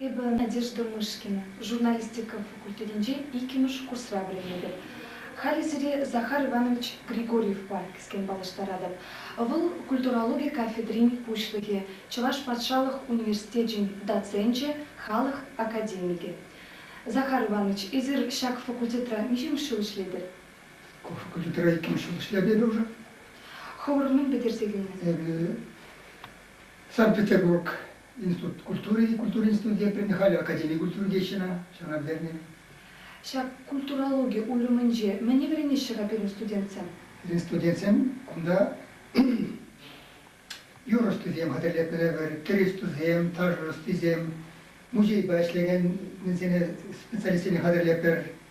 Эпӗ Надежда Мышкина журналистика факультетӗнче иккӗмӗш курсра вӗренетӗп. Халӗ сире Захар Иванович Григорьевпа кӗскен паллаштаратӑп. Вӑл культурологи кафедрин пуҫлӑхӗ, Чӑваш патшалӑх университечӗн доценчӗ, халӑх академикӗ. Захар Иванович, эсир ҫак факультетра миҫемӗш ҫул ӗҫлетӗр? Ку факультетра иккӗмӗш ҫул ӗҫлем эпӗ уже. Хӑвӑр мӗн пӗтерсе килнӗ? Эпӗ Санкт-Петербург институт культури, культура институтӗ теприн халӗ академи культури теҫҫӗ ӑна, ҫавна пӗтернӗ. Ҫак культурологи уйрӑмӗнче мӗне вӗренеҫҫӗ-ха пирӗн студентсем? Пирӗн студентсем кунта юр ӑстисем хатӗрлетнӗ евӗр, тӗр ӑстисем, таш ӑстисем, музейпа ӗҫлекенсене специалистсене хатӗрлетпӗр.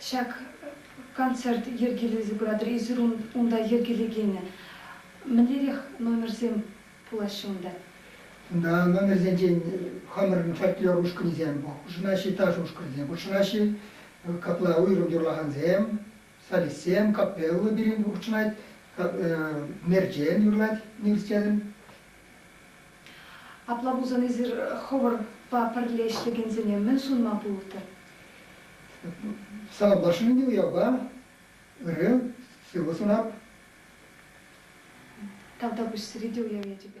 Ҫак концерт йӗркелесе пыратӑр, эсир унта йӗркелекене мӗнлерех номерсем пулаҫҫӗ унта? Унта номерсенчен хамӑрӑн фольклор ушкӑнӗсем, хушӑнаҫҫӗ ташӑ ушкӑнӗсем, хутшӑнаҫҫӗ капла уйрӑм юрлакансем, солистсем, капелла пирӗн хутшӑнать, Мерчен юрлать университетӑн, Апла пулсан эсир хӑвӑрпа пӗрле ӗҫлекенсене мӗн сунма пултӑр? Савӑнтарчӗ ӗнтӗ уявпа. Ырри, сывӑ сунап. Тавтапуҫ сире те уяв ячӗпе.